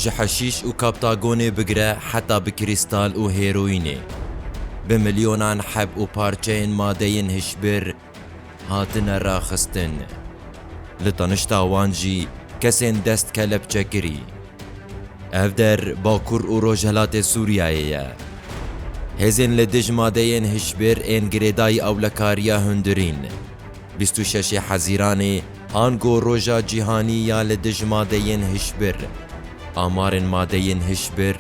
Ji heşîş û kaptagonê bigire heta bi krîstal û hêroînê, bi milyonan heb û parçeyên madeyên hişbir hatine raxistin. Li tenişta wan jî kesên dest kelepçekirî. Ev der Bakur û Rojhilatê Sûriyeyê ye. Hêzên li dij madeyên hişbir ên girêdayî ewlekariya hundirîn. Bîst û şeş ê Hezîranê ango Roja Cîhanî ya li Dij Madeyên Hişbir, amarên madeyên hişbir,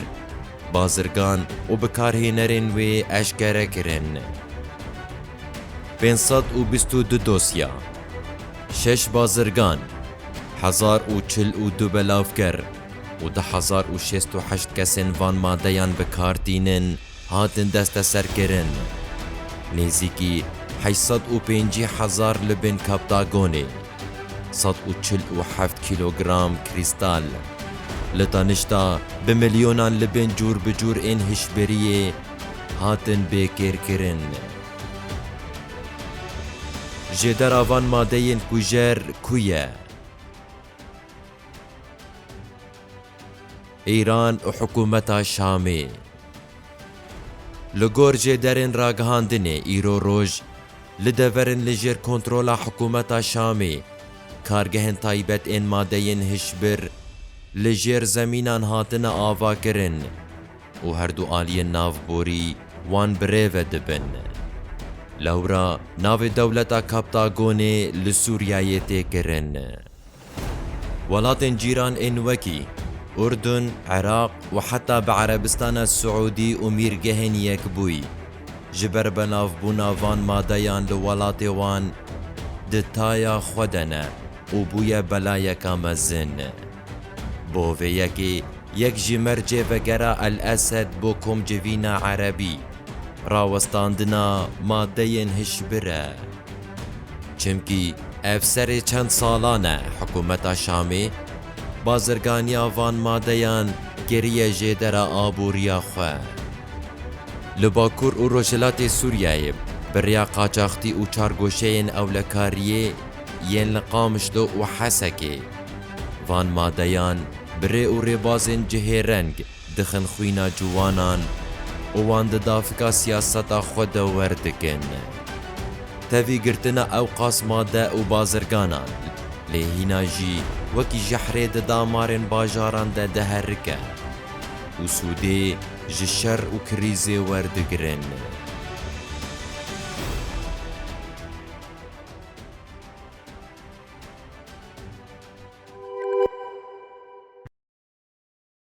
bazirgan û bikarhênerên wê eşkere kirin. Pênc sed û bîst û du dosya, şeş bazirgan, hezar û çil û du belavger û du hezar û şêst û heşt kesên van madeyan bi kar tînin, hatin desteserkirin. Nêzîkî heşt sed û pêncî hezar li bin Kaptagonê, sed û çil û heft kîlogram krîstal, li tenişta bi milyonan li bin cûr bi cûr ên hişbiriyê hatin bêkêrkirin. Jêdera van madeyên kujer ku ye? Îran û hikûmeta Şamê li gor jêderên ragihandinê îro roj li dever in li jêr kontrola hikûmeta Şamê kargehên taybet ên madeyên hişbir li jêr zemînan hatine avakirin û her du aliyên navborî wan bi rê ve dibin. Lewra navê dewleta Kaptagonê li Sûriyeyê tê kirin. Welatên cîran ên wekî, Urdun, Iraq û heta bi Erebistana Siûdî û Mîrgehên Yekbûyî, ji ber benavbûna van madeyan li welatê wan, di taya xwe de ne û bûye belayeka mezin. Bo vê yekê, yek ji mercê vegera El Esed bo komcivîna Erebî, rawestandina madeyên hişbir e. Çimkî ev serê çend salan e hikûmeta Şamê bazirganiya van madeyan kiriye jêdera aboriya xwe. Li Bakur û Rojhilatê Sûriyeyê bi rêya qaçaxtî û çargoşeyên ewlekariyê yên li Qamişlo û Hesekê van madeyan bi rê û rêbazên cihêreng Dixin xwîna ciwanan û wan di davika siyaseta xwe de wer dikin. Tevî girtina ewqas made û bazirganan, lê hîna jî wekî jehrê di damarên bajaran de diherike û sûdê ji şer û krîzê werdigirin.